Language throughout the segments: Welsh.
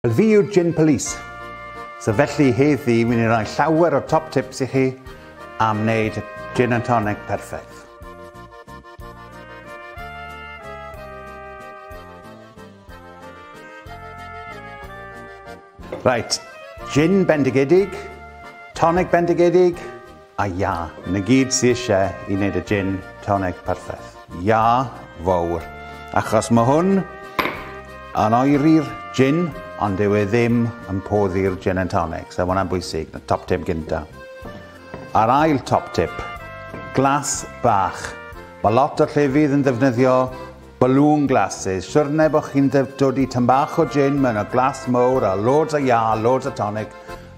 Fi yw'r Gin Police. So felly heddi wi'n ei roi llawer o top tips i chi am wneud gin and tonic perffaith. Right, gin bendigedig, tonic bendigedig, A ya, na gyd sy ishe i wneud y gin tonic perffaith. Ya, fawr, achos ma hwn yn oeri'r gin ond dyw e ddim yn poddi'r gin and tonic, so ma hwnna'n bwysig, na top tip gynta. A'r ail top tip, glas bach. Mae lot o llefydd yn ddefnyddio balloon glasses, siwrne bod chi'n dod i tyn bach o gin mewn o glas mowr a loads o ya, loads o tonic,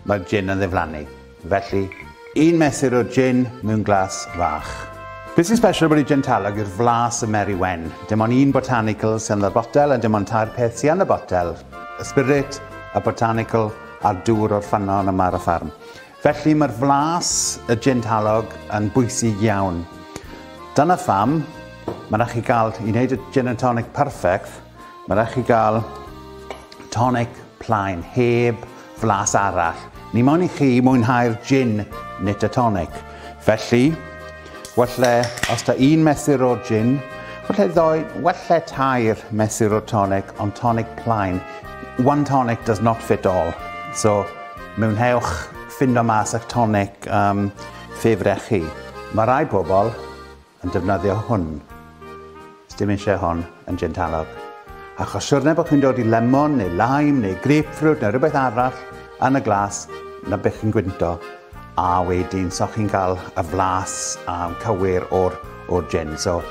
mae'r gin yn ddiflannu. Felly, un mesur o jin mewn glas fach. Be sy'n special bod y jin talog yw'r flas y Mary Wen. Dim ond un botanical sy'n y botel a dim ond tair peth sy'n y botel, y spirit, y botanical a'r dŵr o'r ffynnon yma ar y ffarm. Felly mae'r flas y jin talog yn bwysig iawn. Dyna pham mae yna chi gael i wneud y gin and tonic perfect Mae rhaid chi gael tonic plaen, heb flas arall. Ni moyn i chi mwynhau'r gin nit y tonic. Felly, welle os da un mesur o gin, welle ddoi, welle tair mesur o tonic, ond tonic plaen. One tonic does not fit all. So, mewnhewch ffindo mas eich tonic um, ffefrech chi. Mae rai pobl yn defnyddio hwn. Sdim eisiau hon yn gin talog. Achos siwrne bod chi'n dod i lemon neu lime neu grapefruit neu rhywbeth arall yn y glas na beth chi'n gwynto a wedyn so chi'n cael y flas a'n cywir o'r, or gin. So,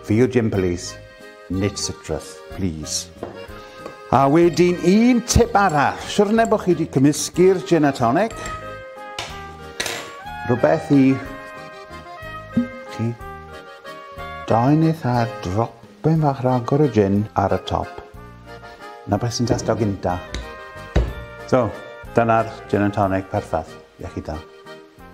fi yw gin police, Nid sitrus, plîs. A wedyn un tip arall. Siwrne bod chi wedi cymysgu'r gin a tonic. Rhywbeth i chi. Dain eith ar dropen fach ragor o gin ar y top. Na beth sy'n testio gynta. So, dyna'r gin and tonic perffaith. Iechyd da.